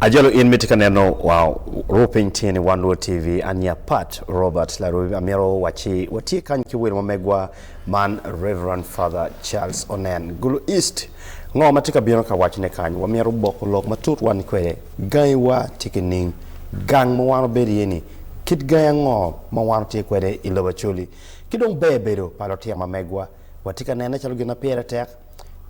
Ajolo in miti ka neno wa ru piny tye ni Wan Luo TV an ya Pat Robert Larui amito wacci watye kany ki welo ma megwa Man Rev. Father Charles Onen, Gulu East, Ngo ma tye ka bino ka wacone kany? Wamyero wuboko lok matut wani kwede. Gangiwa tye ki ning? Gang ma wan wabedo iye ni, kit gangi ango ma wan watye kwede i lobo Acholi? Ki dong ber bedo pa lutino ma megwa watye ka nene calo gin ma pire tek?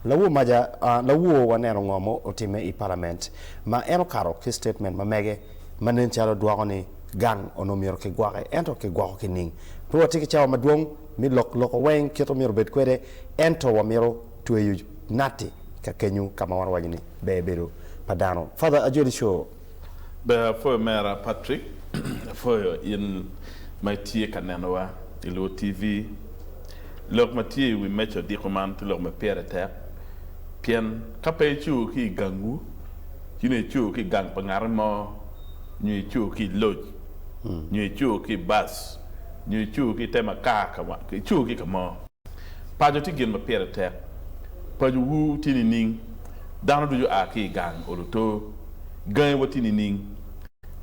Lawor maja, lawor waneno ngo ma otimme i palament ma en okato ki statement ma mege ma nen calo dwoko ni gang onongo myero ki gwoke ento ki gwoko ki ning? Pe watye ki cawa madwong? Mi lok loko weng kit omyero obed kwede, ento wamyero tweyo natti ka kenyo ka ma wan wawaco ni ber bedo pa dano. Father Ajoli Show. Ber apwoyo mera Patrick, apwoyo in ma itye ka nenowa i Luo TV. Lok ma tye i wi meja odiko man tye lok ma pire tek, pien ka pe icuko ki i gangwu, ci nongo icuko ki i gang pa ngati mo, nyo icuko ki i loc, nyo icuko ki i bac. nyo icu ki i te makar ka wang icu ki ka mo. Paco tye gin ma pire tek. Pacowu tye nining? Dano ducu a ki i gang olo to. Gangi wa tye nining?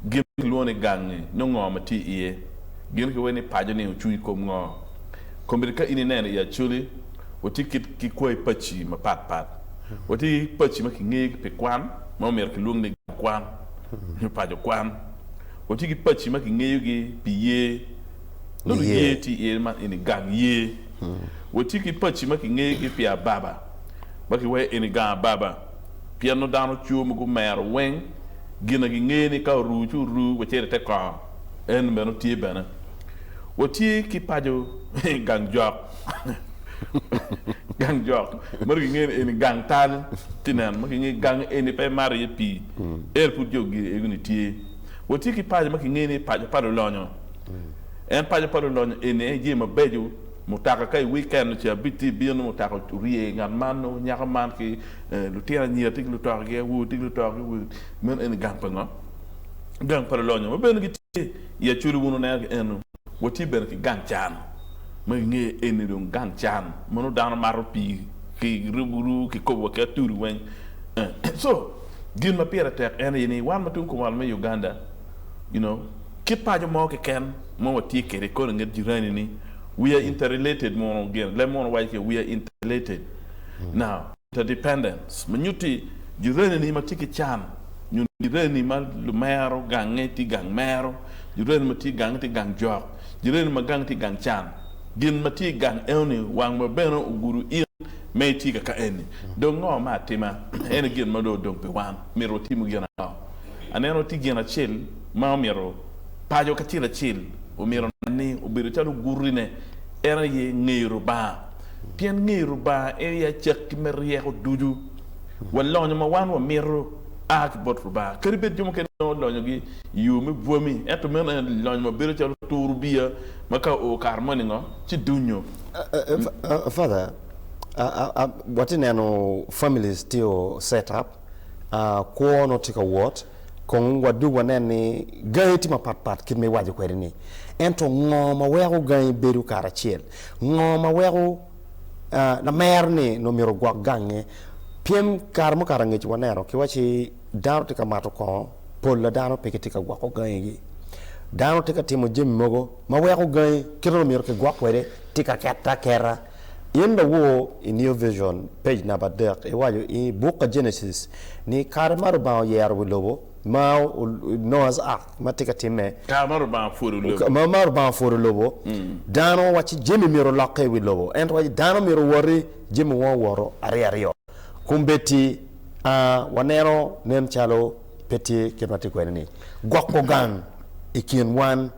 Gin ma kilwongo ni gangi nyo ngo ma tye iye? Gin kiweri ni paco ni ocung i kom ngo? Kombeddi ka in ineno i Acholi, watye kit ki kwai paci ma pat pat. Watye ki paci ma kingeyo pi kwan ma omyero kilwong ni gang kwan nyo paco kwan. Watye ki paci ma kingeyogi pi yer. Nongo yer tye iye man eni gang yer. Watye ki paci ma kingeyogi pi ababa ma kiwaco eni gang ababa pien nongo dano cur ma gumero weng gin na gingeyo ni ka oru ci oru wa cito ite kor. En meno tye bene. Watye ki paco gang jok. Gang jok ma dong kingeyo ni eni gang tal tye nen ma kingeyo gang eni pe mato iye pii ento pud jo gire ego ni tye. Watye ki paco ma kingeyo ni paco pa lulonyo en paco pa lulonyo eni aye jami mabeco mutoka ka i weekend ocito abic tye ibino nongo mutoka orye ngat man nongo nyako man ki lutino anyira tye ki lutoka gi awobe tye ki lutoka gi awobe meno eni gang pa ngo? Gang pa lulonyo ma bene gitye i acholi wun wuneno ki eno. Watye bene ki gang can ma kingeyo eni dong gang can ma nongo dano mato pii ki rubu ru ki kobo wa ki atudi weng eng so gin ma pire tek en aye ni wan ma tung kumalo me Uganda you know kit paco mo keken ma watye kwede kore nget jirani ni we are interrelated mono gin leb mono waco ce we are interrelated now Interdependence, ma nyutti jureneni ma tye ki can nyo jureneni ma lumero gange tye gang mero, jureneni ma tye gange tye gang jok, jureneni ma gange tye gang can. Gin ma tye i gang enoni wang ma bene ogudo in me itye kaka eni. Dong ngo me atima eni gin ma dong odong pi wan? Myero watimu gin ango? Aneno tye gin acel ma omyero paco kacel acel omyero onen ni obedo calo ogurine en aye ngeyo Lubanga. pien ngeyo Lubanga en aye acakki me ryeko ducu. Wa lonyo ma wan wamito a ki bot Lubanga. Kadi bed jo mukene nongo lonyogi i yo me bwami, ento meno en lonyo ma bedo calo turu biya ma ka oo kare mo ningo ci dunyo. Father, watye ka neno families tye o set up, kwo nongo tye ka wot, kong wadog wanen ni gangi tye mapatpat kit ma iwaco kwede-ni. Ento ngo ma weko gangi bedo kare acel? Ngo ma weko lamer ni nongo myero ogwok gange? Pyem kare mukato angec waneno ki waci dano tye ka mato kongo, pol a dano pe gitye ka gwoko gangi gi. Dano tye ka timo jami mogo ma weko gangi kite ma myero kigwok kwede tye ka kete aketa. In lawor i New Vision, page namba adek, iwaco i buk ka Genesis ni kare ma Lubanga oyero wi lobo ma Noah's Ark ma tye ka timme. Kare ma Lubanga pwodo lobo. Kare ma Lubanga pwodo lobo, dano wacci jami myero olokke i wi lobo. Ento wacci dano myero owoti jami weng owoto aryo aryo. Kombeddi waneno nen calo pe tye kit ma tye kwede-ni. Gwoko gang i kin wan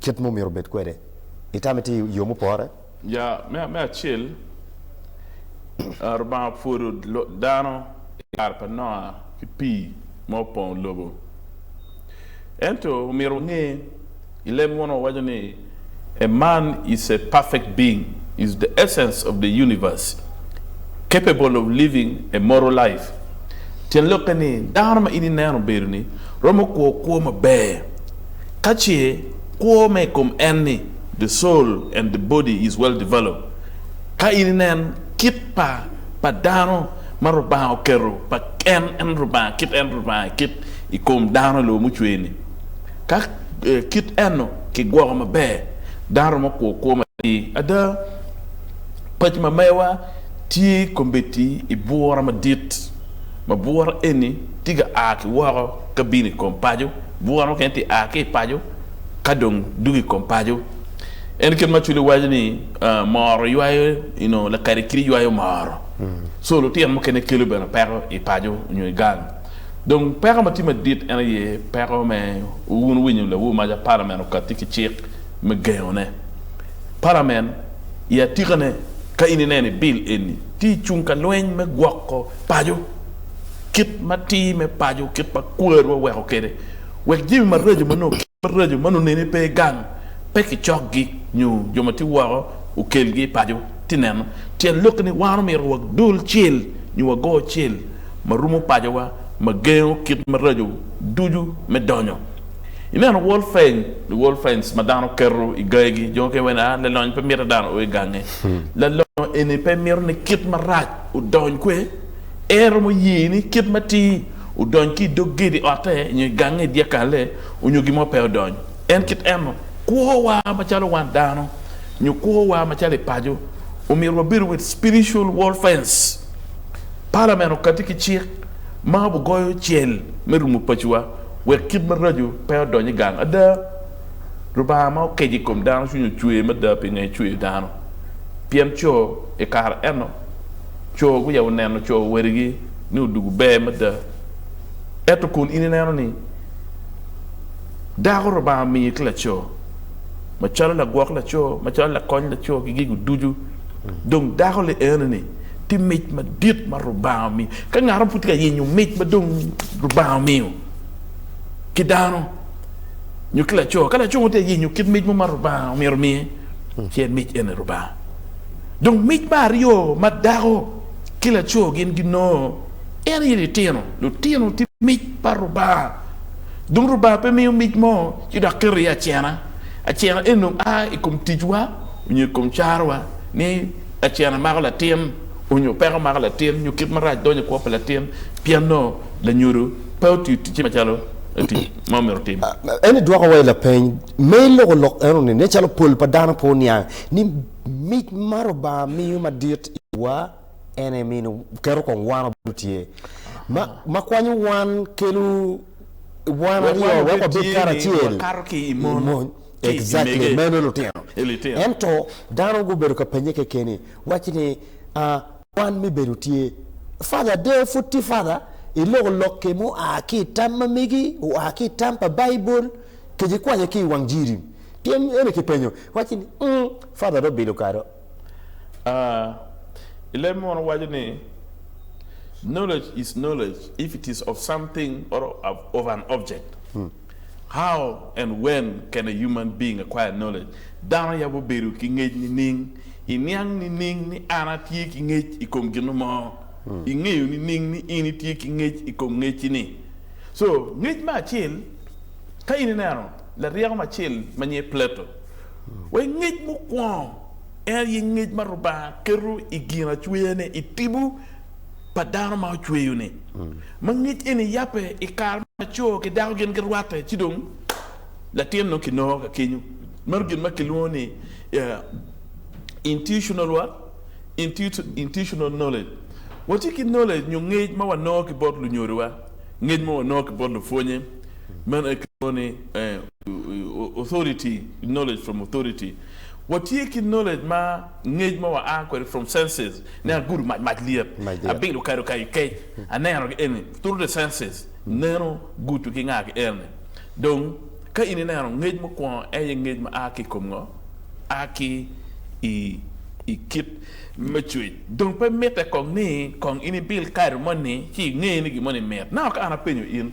kit ma omyero obed kwede. Itame tye i yo mupore. Ya, me, me acel, ah, Rubanga opwodo lo- dano i kare pa Noa ki pii ma opong lobo. Ento omyero wange, i leb mono wawaco ni, A man is a perfect being, is the essence of the universe, capable of living a moral life. Tyen lokke ni, dano ma in ineno obedo-ni romo kwo kwo maber, ka ce kwo me i kom en-ni The soul and the body is well developed Ka in inen kit pa pa dano ma Rubanga oketo pa en en Rubanga kit en Rubanga kit i kom dano i lobo mucwe ni ka kit eno ki gwoko maber dano romo kwo kwo matir ada Paci ma mewa tye kombeddi i bura madit ma bura eni tye ka a ki woko ka bino i kom paco bura mukene tye a ki i paco Ka dong dwogo i kom paco, en kit ma Cwili waco ni moro ywayo, you know, lakadi kidi ywayo moro. So lutino mukene kelo bene peko i paco nyo i gang. Dong peko ma tye madit en aye peko me, wun wuwinyo lawu maca palamen okatti ki cik me gengone. Palamen i atikane ka in ineno i bill eni tye i cung ka lweny me gwoko paco, kit ma ti me paco, kit ma kwarwa weko kede. Wek jami maraco ma nongo kit maraco ma nongo neni pe gang, pe kicokgi nyo jo ma tye woko okelgi i paco. Ti neno, tyen lokke ni wan omyero wadul cel nyo wago cel ma rumo pacowa ma gengo kit maraco ducu me donyo. I neno World Fence, the World Fence ma dano keto i gayegi, jo mukene wene a lalonyo pe mito dano o i gange. Lalonyo eni pe mito ni kit marac odony kwe, en romo ye ni kit matir. odony ki i dog gedi otte nyo i gange i dyekalle onyo gin mo pe odony. En kit eno, kwo wa macalo wan dano nyo kwo wa macalo i paco omyero wabedo with spiritual wall fence. Parliament okati ki cik ma obi goyo cel me rumo paco wa wek kit maraco pe odony i gang. Ada, Lubanga ma okeco i kom dano cwinye ocwer mada pinge ecweyo dano pien co i kare eno. Co guya oneno co wadigi ni odwogo ber mada. Ento kun in ineno ni dako Lubanga omiyi ki laco macalo lagwok laco, macalo lakony laco ki gigo ducu, dong dako li enoni tye mic madit ma Lubanga omiyo. Ka ngat mo pud tye ka yenyo mic ma dong Lubanga omiyo ki dano nyo ki laco, ka laco mo tye ka yenyo kit mic mo ma Lubanga myero omiye, ci en mic eni Lubanga. Dong mic me aryo ma dako ki laco gin ginongo en aye litino. Lutino tye mic pa Rubanga. Dong Rubanga pe miyo mic mo ci dok keto iye acena. Acena eni dong a i kom ticwa nyo i kom carowa ni acena mako latin nyo peko mako latin nyo kit marac donyo i kwo pa latin pien nongo lanyodo pe otiyo ticce macalo tic ma omyero otim. En dwokowa i lapeny me loko lok enoni nen calo pol pa dano pe oniang ni. Mic ma Rubanga miyo madit iwa en aye mino keto kong wan obedo tye ma, ma kwanyo wan kelo wan Wek aryo wan wek obed wabed tye-ni, karacel wakato ki i mon, mony. ki i Exactly, mege, meno lutino. i litino. Ento dano gubedo ka pennye kekeni, wacci ni, ah, kwan me bedo tye, Father ade pud tye Father? Iloko lokki mua ki i tam ma megi, oa ki i tam pa Baibul, kec ikwanye ki i wang Jiri. Pien eni kipenyo, wacci ni, Ung, Father dong bilo kado. A I leb munu waco ni, Knowledge is knowledge if it is of something or of an object. How and when can a human being acquire knowledge? Dano yabo bedo ki ngec nining? I niang nining ni an atye ki ngec i kom gino mo? I ngeyo nining ni in itye ki ngec i kom ngecci ni? So, ngec me acel, ka in ineno. laryeko macel ma nyinge Plato, wa i ngec mukwongo, en aye ngec ma Rubanga keto i ginacweyane i tibu pa dano ma ocweyo-ni, ma ngec eni yabbe i kare ma laco ki dako gin girwatte, ci dong latin dong kinongo ka kenyu. Meno gin ma kilwongo ni intutional what? intutional knowledge. Watye ki knowledge nyo ngec ma wanongo ki bot lunyodowa, ngec ma wanongo ki bot lupwonye. Meno aye kilwongo ni authority, knowledge from authority. Watye ki knowledge ma ngec ma wa a kwede from senses, nen agudo mac, mac lyet, abido kado kayo kec, aneno ki eni through the senses, neno, gudo ki nga ki eni. Dong ka in ineno ngec mukwongo en aye ngec ma a ki i kom ngo? A ki i kit me cwec. Dong pe mitte kong ni kong in ibil kado moni ci inge ni gin moni mit. Naka ka an apenyo in.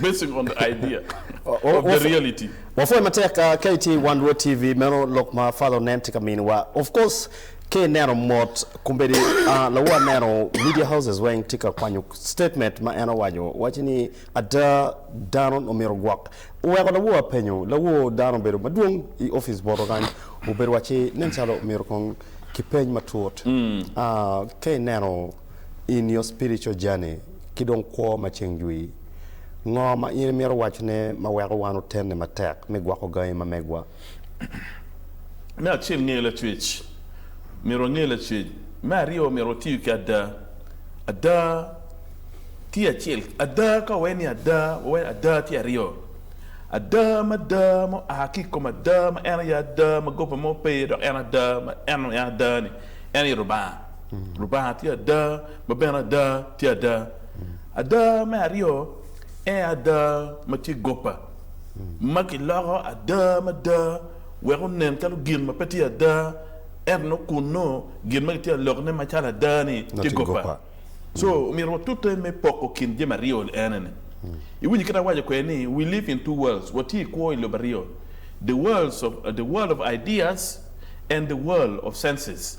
Basing on the idea of the reality. Wapwoyo matek ka itye i Wan Lwod TV, meno lok ma Father Onen tye ka miniwa. Of course, ka ineno mot, kombeddi lawu aneno media houses weng tye ka kwanyo statement ma en owaco, waco ni ada dano omyero ogwok. Oweko lawu apenyo, lawu dano obedo madwong i office boto kany, obedo waci nen calo omyero kong kipeny matut, ka ineno in your spiritual journey ki dong kwo ma ceng jwi. Ngo ma in imito wacne ma weko wan otenne matek me gwoko gangi ma megwa? Me acel ngeyo lacwec. Myero wange lacwec. Me aryo myero watiyo ki ada. Ada tye acel ada ka wawaye ni ada wawaye ada tye aryo. Ada ma ada ma oa ki ikom ada ma en aye ada ma goba mo pe iye dok en ada ma en ada ni en aye Lubanga. Lubanga tye ada, ma bene ada tye ada. Ada me aryo en aye ada ma tye goppa, ma kiloko ada mada wek onen calo gin ma pe tye ada, ento nongo kun nongo gin ma kitye ka lokone macalo ada-ni tye goppa. So, omyero watute me poko kin jami aryo ene ni. Iwinyo kit awaco kwede ni we live in two worlds, watye i kwo i lobo aryo, the world of ideas and the world of senses.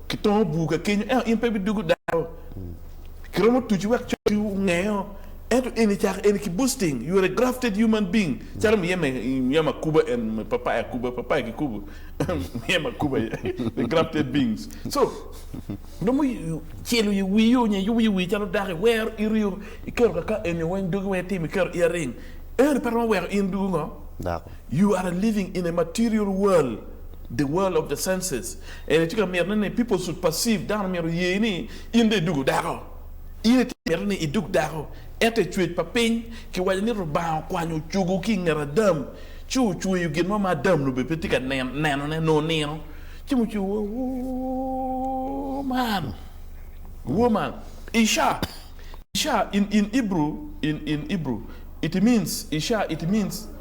Kitongo bur ka kenyo, ento in pe ibidugo daro. Kiromo tuci wek cotti ongeo, ento eni cako eni ki boosting, you are a grafted human being, calo miye me miya makuba en me papaya kuba, papaya kikubo miye makuba the grafted beings. So romo celo i wii o nyo yubo i wii calo dako i wero ito yo iketo kaka eni weng dogi weng itimo iketo earring, ento pe romo weko in dugo ngo? Dako. You are a living in a material world, the world of the senses. Eni tye ka miti ni people should perceive, dano myero oye ni in dong idwogo dako. In itye ka miti ni idog dako. Ento i cwec pa piny, kiwaco ni Rubanga okwanyo ocogo ki i nget Adam, ci ocweyo gin mo ma Adam nongo bene pe tye ka nenone, nongo nino, ci ma ocweyo wa woman, woman, Isha, Isha in in Hebrew, in in Hebrew, it means, Isha, it means.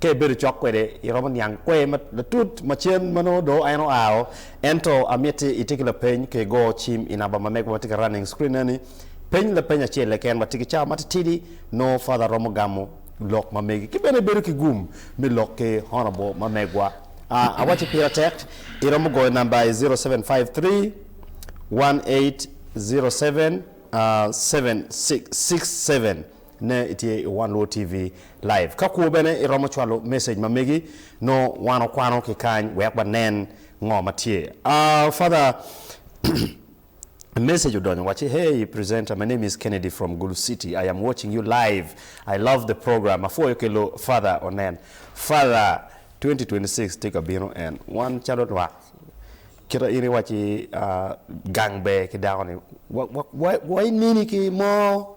Ka ibedo cok kwede, iromo niang kwer matut ma cen ma nongo dong en oao. Ento amiti iti ki lapeny ka igo cim i namba ma mego ma tye ki running screen eni. Peny lapeny acel keken ma tye ki cawa matitidi nongo Father romo gamo lok ma megi. Ki bene ibedo ki gum me lok ki honorable ma megwa. Ah, awacci pira tek, iromo goyo namba i zero seven five three one eight zero seven seven six six seven. Ne itye i One Luo TV Live. Ka kwo bene iromo cwalo message ma megi, nongo wan okwano ki kany wek wanen ngo ma tye. Aah Father message odonyo wacci, Hey presenter my name is Kennedy from Gulu City I am watching you live I love the program apwoyo ki loo Father onen Father 2026 tye ka bino en wan calo lwak kita in iwacci gang ber ki dako ni wa wa wa wa ineni ki mo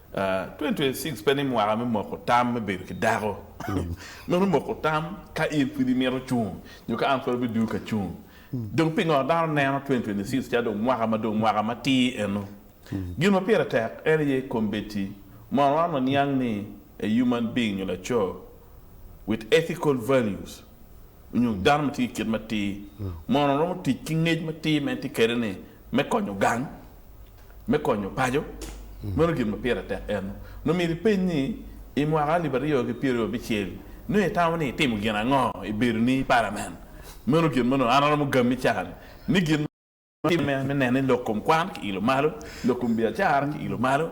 2026 pe ni mwaka me moko tam me bedo ki dako. Meno moko tam ka in pud imito cung nyo ka an pud abidwogo ka cung. Dong pingo dano neno 2026 calo dong mwaka ma dong mwaka matir eno? Gin ma pire tek en aye kombeddi. Mono wan waniang ni a human being nyo laco with ethical values nyo dano ma tye ki kit matir mono romo tic ki ngec matir ma en tye kwede ni me konyo gang? me konyo paco, meno gin ma pire tek en. Nongo myero ipeny ni, I mwaka alip aryo ki pyeraryo abicel, nongo itamo ni itimo gin ango i bedoni i Palament? Meno gin ma nongo an aromo gammi cani ni gin ma atimme me neno ni lok kom kwan kiilo malo, lok kom biacara kiilo malo,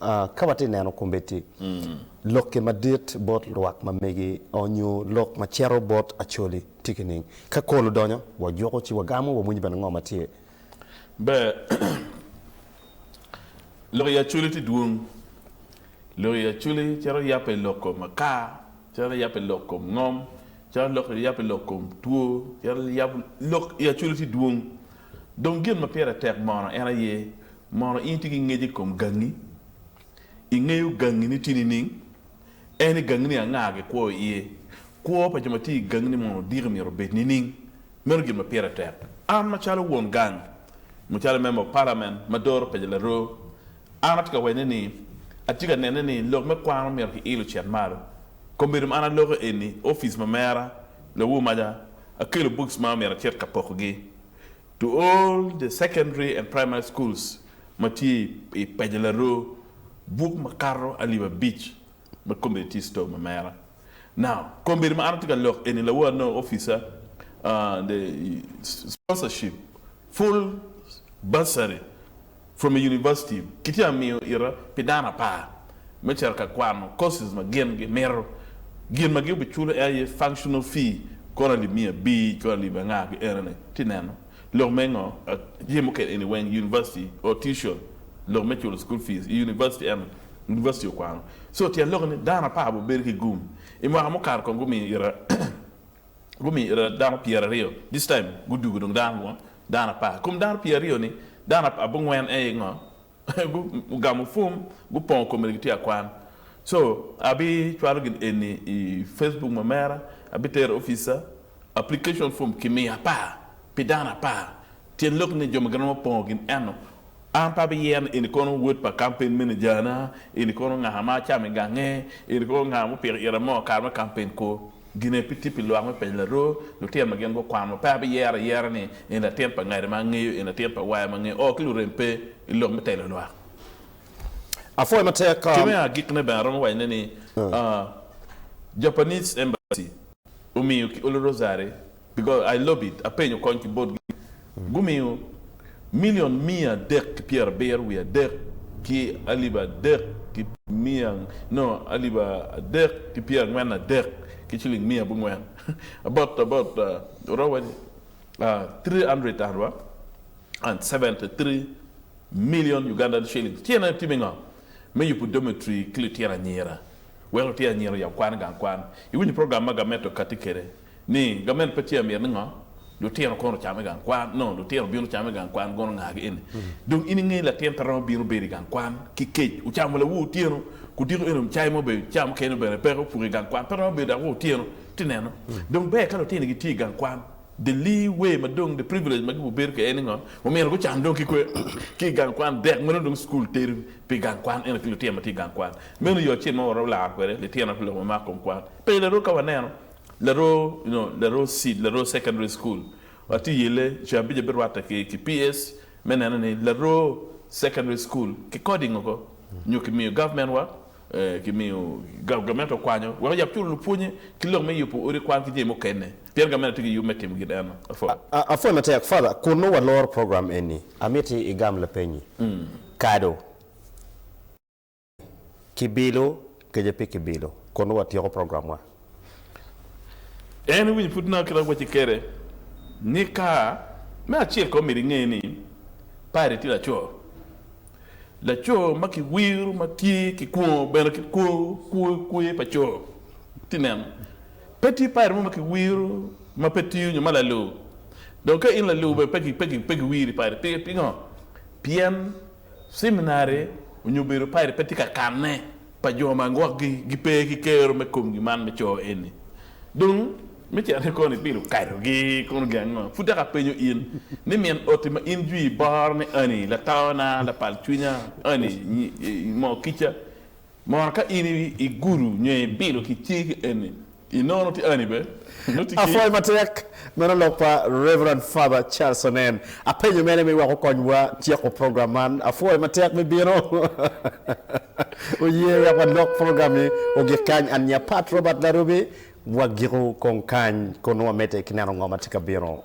Ka watye ka neno kombeddi lokki madit bot lwak ma megi nyo lok ma cito bot Acholi tye kining? Ka kol odonyo, wajuko ci wagamo, wamwonyo bene ngo ma tye. Ber. Lok i Acholi tye dwong. Lok i Acholi cito yabbe lok kom akar, cito yabbe lok kom ngom, cito yabbe lok kom two, cito yabbe lok i Acholi tye dwong. Dong gin ma pire tek mono en aye, mono in itye ki ngec i kom gangi? Ingeyo gangini tye nining? En i gangini anga gikwo iye? Kwo pa jo ma tye i gangini mono diki myero obed nining? Meno gin ma pire tek. An macalo won gang, mucale member of parliament ma doro pec laroo, An atye ka wene ni, atye ka nene ni lok me kwan ma myero kiil ocit malo. Kombedo ma an aloko eni, ofice ma mera, lawu maja, akelo books ma myero acit ka poko gi to all the secondary and primary schools ma tye i paco laroo, book makato alip abic. Ma kombedi tye i store ma mera. Now, kombedi ma an atye ka lok eni lawor anongo officer and the sponsorship full bursary from a university kitye ka miyo ita pi dano apar me cito ka kwano courses ma gin gi mito. Gin ma gi obi culo en aye functional fee, kore alip miya abir, kore alip anga ki enene. Tye neno. Lok me ngo? Jami mukene eni weng University or tuition lok me culo school fees i University ento University okwano. So tyen lokke ni dano apar bu bedo ki gum. I mwaka mukato kong gumiyo ita gumiyo ita dano pyer aryo this time gudugo dong dano ngo? Dano apar. Kom dano pyer aryo ni dano abungwen aye ngo? Gugamo fum gupongo kome gitye akwan. So abi cwalo gin eni i Facebook ma mera, abi tero i offica, application fum ki miyo apar pi dano apar. Tyen lok ni jo ma giromo pongo gin eno. An pe abi yero ni eni kono wod pa kampen meneja na, eni kono nga ma acamo i gange, eni kono nga ma opiko ira mo kare me kampen kwo. Gine pi tip pi lwak me penyo laruu lutino ma gin gukwano. Pe abiyero ayera ni en latin pa ngada ma angeyo, en latin pa waya ma angeyo. Oo, ki lurem pe i lok me telo lwak. Apwoyo matek. Ki me agikne bene, aromo wacone ni Japanese Embassy omiyo ki olo rosary Because I lob it, apenyo kony ki botgi. Gumiyo milion miya adek ki pyera abiro wiye adek ki alip adek ki miya no alip adek ki pyera angwen adek ki ciling miya abongwen about about oromo wa ni three hundred and seventy three million Ugandan shillings. Ci en aye time ngo me yubu dormitory ki litino anyira wek litino anyira oyab kwan i gang kwan. Iwinyo program ma gamet okati kede Ni, Gavment pa Chair myero ni ngo? Lutino kono ocam i gang kwan? No, lutino bino camo i gang kwan gono ngagi eni. Dong in ingeyo ni latin pe romo bino bedo i gang kwan ki kec. Ocamo lawu otyeno, kudiko eni cai mo bene, caa mukene ni bene peke opuko i gang kwan, pe romo bedo dok wa otyeno ti neno. Dong ber ka lutini gitye i gang kwan. The lee way ma dong the privilege ma gibo bedo kede en ni ngo? Omyero gucam dong ki kwe ki i gang kwan dek ma nongo dong cukul teri pi gang kwan eno ki lutino ma tye i gang kwan. Meno yo acel ma waromo laro kwede litino pi lok ma mako kom kwan. Pe i larok ka waneno Laro you know laro seed laro secondary school atye yelle ceng abica birwatte ki ki PS me neno ni laro secondary school ki coding oko nyo ki miyo government wa ki miyo gamente okwanyo wek oyab culo lupwonye ki lok me yubu odi kwan ki jami mukene pien gamente atye ki yub me timo gin eno afo. Apwoyo matek father kun nongo waloro program eni amiti igam lapenyi kado. Kibilo, Kece pi kibilo, kun nongo watyeko programwa. En iwinyo pud naka kit ma wacci kede ni ka. Me acel ko myero inge ni Pire tye laco. Laco ma ki wiro ma tye ki kwongo bene ki kwer pa co. Ti neno, pe tye Pire mo ma ki wiro ma pe tiyo nyo ma laloo. Dong ka in laloo bene pe ki wiri Pire. Pingo? Pien Ciminari onyo bedo pairet pe tye ka kanne pa jo ma gwok gi gi pe ki kero me komgi man me coo eni. Dong me cene kono i pilo kato gi kono gi ango? Pud dok a penyo in ni min oti ma in jwi boro ni Annie, lataona, lapal cwinya, Annie, nyi, moo kica, Mor ka in i gudo nyo i bilo ki cing ki eni i nono ti ani be nongo ti ki. Apwoyo matek meno lok pa Reverend Father Charles Onen. Apenyo mene me wek okony wa tyeko program man. Apwoyo matek me bino. Oye wek wa lok program ni ogik kany an nya Pat Robert Larubi wa giko kong kany kun nongo wa mede ki neno ngo ma tye ka bino.